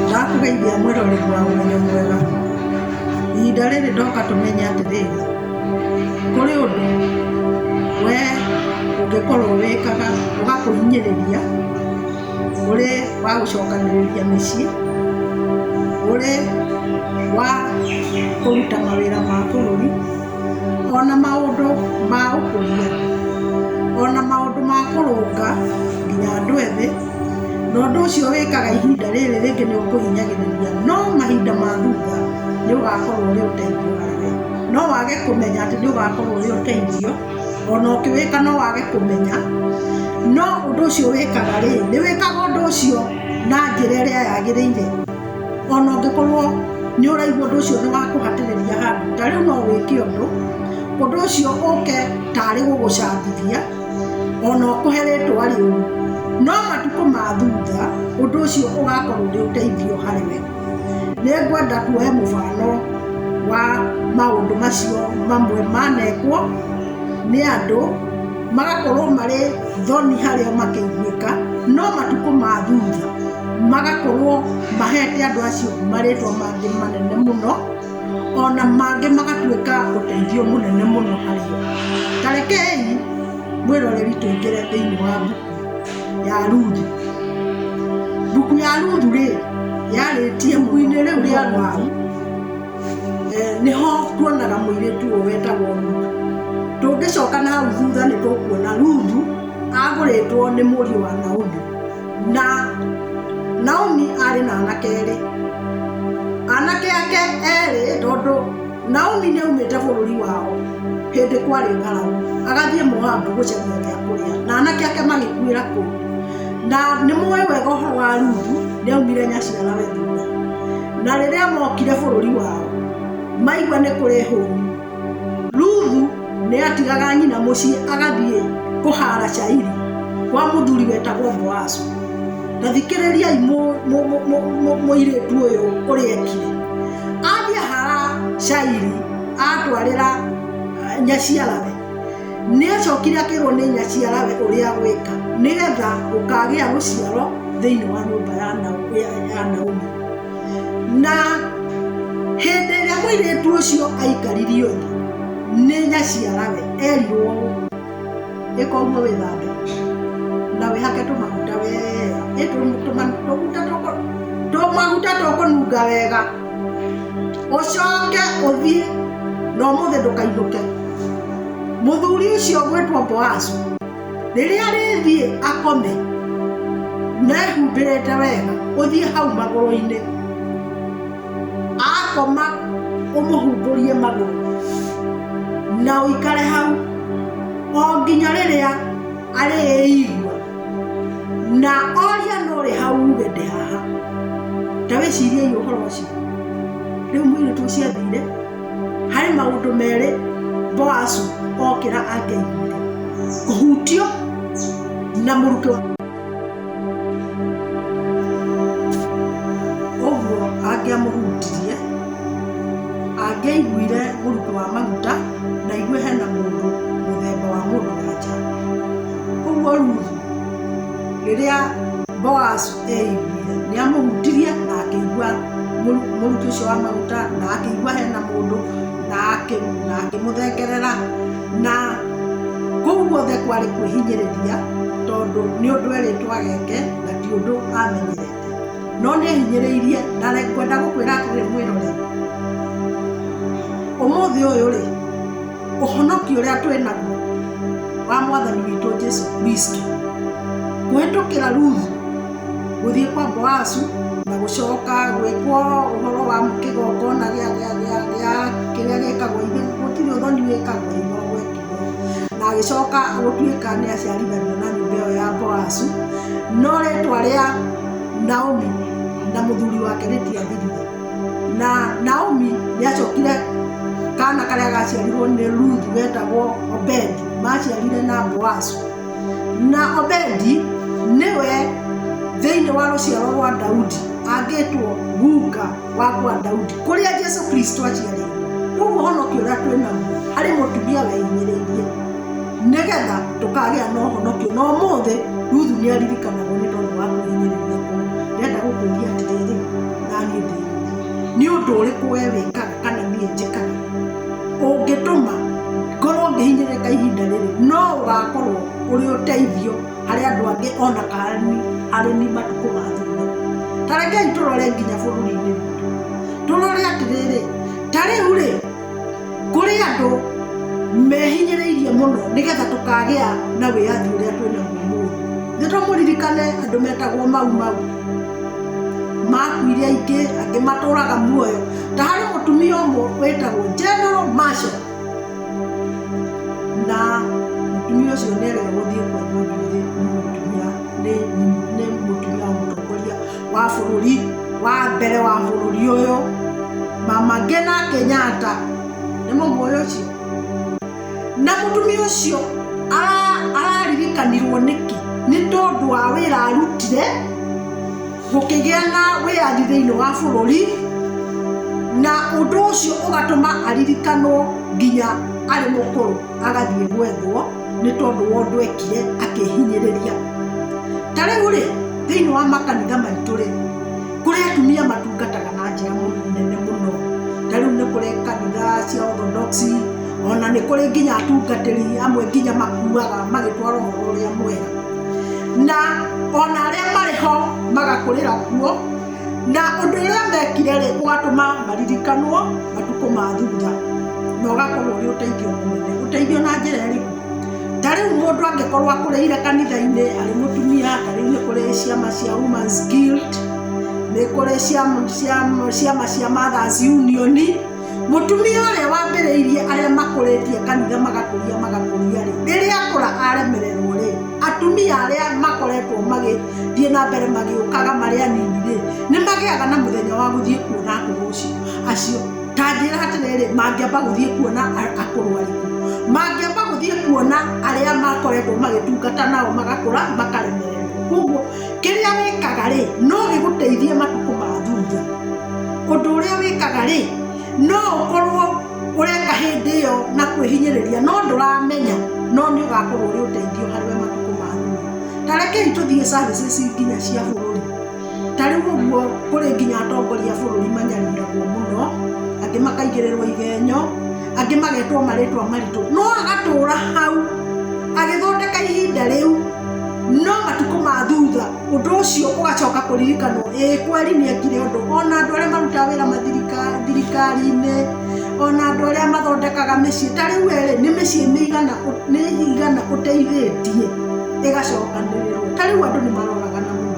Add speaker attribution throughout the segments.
Speaker 1: Ndakũgeithia mwĩroreri wa Ũmenyo Mwega. Ihinda rĩrĩ ndoka tũmenye atĩrĩrĩ, kũrĩ ũndũ we ũngĩkorwo wĩkaga ũgakũhinyĩrĩria ũrĩ wa gũcokanĩrĩria mĩciĩ, ũrĩ wa kũruta mawĩra ma bũrũri. o na maũndũ ma ũkũria, o na maũndũ ma kũrũnga nginya andũ ethĩ, na ũndũ ũcio wĩkaga ihinda rĩrĩ rĩngĩ nĩ ũkũhinyagĩrĩria, no mahinda ma thutha nĩ ũgakorwo ũrĩ ũteithio wake. No wage kũmenya atĩ nĩ ũgakorwo ũrĩ ũteithio, o na ũkĩwĩka no wage kũmenya, no ũndũ ũcio wĩkaga rĩ, nĩ wĩkaga ũndũ ũcio na njĩra ĩrĩa yagĩrĩire. O na ũngĩkorũo nĩ ũraigua ũndũ ũcio nĩ wa kũhatĩrĩria handũ, ta rĩu no wĩke ũndũ ũndũ ũcio ũũke ta arĩ gũgũcambithia, o na ũkũhe rĩĩtwa rĩũru. No matukũ ma thutha, ũndũ ũcio ũgakorũo ũrĩ ũteithio harĩ we. Nĩ ngwenda kuoya mũbano wa maũndũ macio mamwe manekwo nĩ andũ, magakorũo marĩ thoni harĩ o makĩiguĩka, no matukũ ma thutha. magakorwo mahete andũ acio marĩtwa mangĩ manene mũno ona mangĩ magatuĩka ũteithio mũnene mũno harĩ o tarekei mwĩroreri tũingĩre thĩinĩ wa mbuku ya ruthu mbuku ya ruthu rĩ yarĩtie mbuku-inĩ rĩu rĩa ruthu eh, nĩho tuonaga mũirĩtu ũyũ wetagwo ruthu tũngĩcoka na hau thutha nĩ tũkuona ruthu agũrĩtwo nĩ mũriũ wa naomi Na Naomi arĩ na anake erĩ. Anake ake erĩ tondũ Naomi nĩ aumĩte bũrũri wao hĩndĩ kwarĩ ng'aragu agathiĩ Moabu gũcaria gĩa kũrĩa na anake ake magĩkuĩra kũu. Na nĩ mũĩ wega ũhoro wa Ruthu nĩ aumire nyaciara we thutha. Na rĩrĩa mokire bũrũri wao maigua nĩ kũrĩ hũũnu. Ruthu nĩ atigaga nyina mũciĩ agathiĩ kũhaara cairi kwa mũthuri wetagwo Boazu. Ta thikĩrĩriai mũirĩtu ũyũ ũrĩa ekire. Athiĩ ahaara cairi atwarĩra eh, nyaciarawe nĩ acokire akĩrwo nĩ nyaciarawe ũrĩa gwĩka nĩgetha ũkagĩa rũciaro thĩinĩ wa nyũmba ya Naomi. na hĩndĩ ĩrĩa mũirĩtu ũcio aikaririo thĩ nĩ nyaciarawe erirwo ĩka ũguo wĩthambe na wĩhake tũmaguta wega Ĩ tũ- tũma- tũmaguta tũkũ- tũmaguta tũkũnunga wega ũcoke ũthiĩ na ũmũthĩ ndũkainũke mũthuri ũcio ũgwĩtwo boazu rĩrĩa rĩthiĩ akome na ehumbĩrĩte wega ũthiĩ hau magũrũ-inĩ akoma ũmũhumbũrie magũrũ na ũikare hau o nginya rĩrĩa arĩigua na oria no rĩ hau uge ndĩ haha ta wĩciriei ũhoro ũcio rĩu mũirĩtu ũcio athire harĩ maũndũ merĩ boasu okĩra angeiguire kũhutio na mũrutwo ũguo angĩamũhutirie angĩaiguire mũrutwo wa maguta na igue hena mũndũ mũthemba wa mũndũ wanja ũguo ruthu rĩrĩa boasu nĩ amũhutirie na akĩigua mũruki ũcio wa maguta na akĩigua hena mũndũ na akĩmũthengerera na kũu guothe kwarĩ kwĩhinyĩrĩria tondũ nĩ ũndũ erĩtwo ageke na ti ũndũ amenyerete no nĩ ehinyĩrĩirie na ngwenda gũkwĩra atĩrĩ mwĩrore ũmũthĩ ũyũ rĩ ũhonoki ũrĩa twĩ naguo wa mwathani witũ jesu kristo kũhĩtũkĩra ruthu gũthiĩ kwa boasu na gũcoka gwĩkwo ũhoro wa kĩgongona gĩa- gĩa- gĩa- gĩa- kĩrĩa gĩkagwo ithe gũtirĩ ũthoni wĩkagwo ithe gwekirwo na agĩcoka gũtuĩka nĩ aciarithanio na nyũmba ĩyo ya boasu no rĩtwa rĩa naomi na mũthuri wake rĩtiathirire na naomi nĩ acokire kana karĩa gaciarirwo nĩ ruthu wetagwo obedi maciarire na boazu na obedi nĩwe thĩinĩ wa rũciaro rwa daudi angĩtwo guka wa kwa daudi kũrĩa jesu kristo aciarĩirwo koguo ũhonokio ũrĩa twĩ naguo harĩ mũtumia wehinyĩrĩirie nĩgetha tũkagĩa na ũhonokio na ũmũthĩ ruthu nĩ aririkanagwo nĩ tondũ wa kwĩhinyĩrĩria kũu ndenda gũkũria atĩrĩrĩ angĩndeithia. Nĩ ũndũ ũrĩkũ wee wĩkaga kana niĩ njĩkaga ũngĩtũma ngorũo ngĩhinyĩrĩrĩka ihinda rĩrĩ? No ũgaakorũo ũrĩ ũteithio harĩ andũ angĩ o na kana harĩ niĩ matukũ ma thutha. Ta rekei tũrore nginya bũrũri-inĩ witũ, tũrore atĩrĩrĩ, 'Ta rĩu-rĩ, kũrĩ andũ mehinyĩrĩirie mũno nĩgetha tũkagĩa na wĩyathi ũrĩa twĩnaguo mũthĩ nĩ tũmũririkane andũ metagwo mau mau makuire aingĩ angĩ matũraga muoyo ta harĩ mũtumia ũmwe wĩtagwo general masha na mũtumia ũcio nĩ arega gũthiĩ kwa mũndũ nĩ mũtumia nĩ mũtumia wa mũtongoria wa bũrũri wa mbere wa bũrũri ũyũ mama Ngina Kenyatta nĩ mũmũĩ ũcio na mũtumia ũcio araririkanirwo nĩkĩ nĩ tondũ wa wĩra arutire gũkĩgĩa na wĩyathi thĩinĩ wa bũrũri na ũndũ ũcio ũgatũma aririkanwo nginya arĩ mũkũrũ agathiĩ gwethwo. nĩ tondũ wa ũndũ ekire akĩhinyĩrĩria ta rĩu rĩ thĩinĩ wa makanitha maitũ rĩ kũrĩ atumia matungataga na njĩra nene mũno ta rĩu nĩ kũrĩ kanitha cia orthodox ona nĩ kũrĩ nginya atungatĩri amwe nginya makuaga magĩtwara ũhoro ũrĩa mwega na ona arĩa marĩ ho magakũrĩra kuo Na ũndũ ũrĩa mekire-rĩ, ũgatũma maririkanwo matukũ ma thutha, na ũgakorwo ũrĩ ũteithio mũnene. Ũteithio na njĩra ĩrĩkũ? Ta rĩu mũndũ angĩkorwo akũrĩire kanitha-inĩ arĩ mũtumia, ta rĩu nĩ kũrĩ ciama cia Women's Guild, nĩ kũrĩ ciama cia Mothers Union, Mũtumia ũrĩa wambĩrĩirie arĩa makũrĩtie kanitha magakũria magakũria rĩ, rĩrĩa akũra aremererwo rĩ, atumia arĩa makoretwo magĩthiĩ na mbere magĩũkaga marĩ anini rĩ, nĩ magĩaga na mũthenya wa gũthiĩ kuona akũrũ ũcio acio. Ta njĩra atĩrĩrĩ, mangĩamba gũthiĩ kuona a- akũrũ arĩkũ? Mangĩamba gũthiĩ kuona arĩa makoretwo magĩtungata nao magakũra makaremererwo. Koguo Kĩrĩa wĩkaga-rĩ, no gĩgũteithie matukũ ma thutha. Ũndũ ũrĩa wĩkaga-rĩ, no ũkorwo ũreka hĩndĩ ĩyo na kwĩhinyĩrĩria no ndũramenya no nĩ ũgakorwo ũrĩ ũteithio harĩ we matukũ ma thutha. Ta rekei tũthiĩ services nginya cia bũrũri. Ta rĩu ũguo kũrĩ nginya atongoria a bũrũri manyariiragwo mũno, angĩ makaigĩrĩrwo igenyo. angĩ magetwo marĩtwa maritũ no agatũra hau agĩthondeka ihinda rĩu no matukũ ma thutha ũndũ ũcio ũgacoka kũririkanwo ĩĩ kweri nĩ ekire ũndũ ona andũ arĩa marutaga wĩra mathirika- thirikari-inĩ ona andũ arĩa mathondekaga mĩciĩ ta rĩu erĩ nĩ mĩciĩ mĩigana ũ- nĩ igana ũteithĩtie ĩgacokanĩrĩrwo ta rĩu andũ nĩ maroragana mũno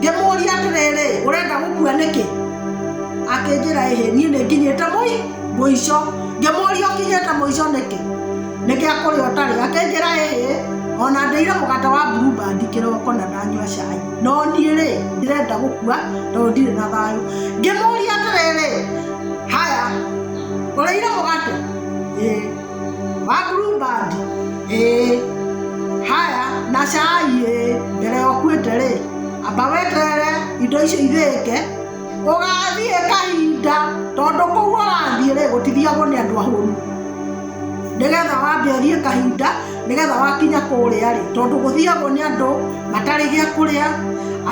Speaker 1: Ngĩmũũria atĩrĩrĩ, ũrenda gũkua nĩkĩ? Akĩnjĩra ĩhĩ, niĩ nĩ nginyĩte mũi mũico. Ngĩmũũria ũkinyĩte mũico nĩkĩ? Nĩ gĩa kũrĩa ũtarĩ. Akĩnjĩra ĩhĩ, ona ndĩire mũgate wa Blue Band kĩroko na ndanyua cai. No niĩ rĩ, ndĩrenda gũkua tondũ ndirĩ na thayũ. Ngĩmũũria atĩrĩrĩ, haya, ũrĩire mũgate? Ĩĩ. Wakuru band ĩĩ haya na cai ĩĩ mbere ya ũkuĩte rĩ amba weterere indo icio ithĩke ũgathiĩ kahinda tondũ kũu ũrathiĩ rĩ gũtithiagwo nĩ andũ ahũnu nĩgetha wambe ũthiĩ kahinda nĩgetha wakinya kũrĩa rĩ tondũ gũthiagwo nĩ andũ matarĩ gĩa kũrĩa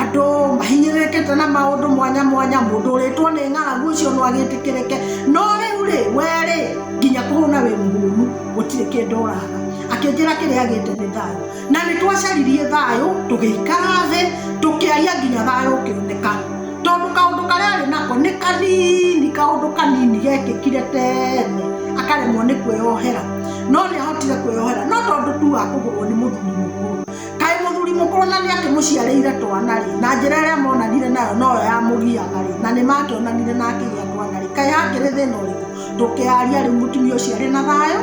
Speaker 1: andũ mahinyĩrĩkĩte na maũndũ mwanya mwanya mũndũ ũrĩtwo nĩ ng'aragu ũcio no agĩtĩkĩrĩke no rĩu rĩ we rĩ nginya kũhũna wĩ mũhũnu gũtirĩ kĩndũ ũraga akĩnjĩra kĩrĩa agĩte nĩ thayũ na nĩ twacaririe thayũ tũgĩikara thĩ tũkĩaria nginya thayũ ũkĩoneka tondũ kaũndũ karĩa arĩ nako nĩ kanini kaũndũ kanini gekĩkire tene akaremwo nĩ kwĩyohera no nĩ ahotire kwĩyohera no tondũ tu wa kũgũrwo nĩ mũthuri mũkũrũ kaĩ mũthuri mũkũrũ na nĩ akĩmũciarĩire twana rĩ na njĩra ĩrĩa monanire nayo noyo yamũgiaga rĩ na nĩ makĩonanire na akĩgĩa twana rĩ kaĩ hakĩrĩ thĩna ũrĩkũ ndũkearie rĩu mũtumia ũcio arĩ na thayũ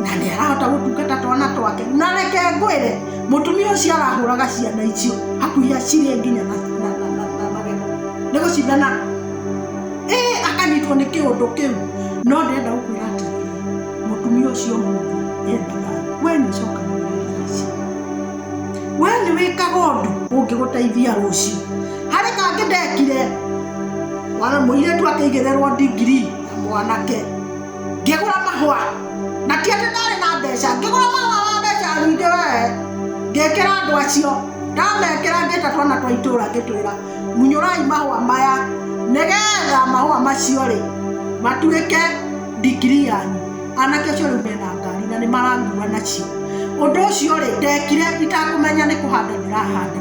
Speaker 1: na nĩ arahota gũtungata twana twake na reke ngwĩre mũtumia ũcio arahũraga ciana icio hakuhĩ acirĩ nginya na na- na- na- na magego nĩ gũcindana ĩ akanyitwo nĩ kĩũndũ kĩu no ndĩrenda gũkwĩra atĩ mũtumia ũcio mũndũ endaga we nĩ ũcokanagĩrĩria ici we nĩ wĩkaga ũndũ ũngĩgũteithia rũciũ harĩ kangĩ ndekire wara mũirĩtu akĩigĩrĩrwo ndigiri na mwanake ngĩgũra mahũa na ti atĩ ndarĩ na mbeca ngĩgũra mahũa ma mbeca nyingĩ wee ngĩkĩra andũ acio ndamekĩra ngĩta twana twa itũra ngĩtwĩra munyũrai mahũa maya nĩgetha mahũa macio rĩ matuĩke ndigiri yanyu anake acio rĩu mena ngari na nĩ mararua nacio ũndũ ũcio rĩ ndekire itakũmenya nĩ kũhanda ndĩrahanda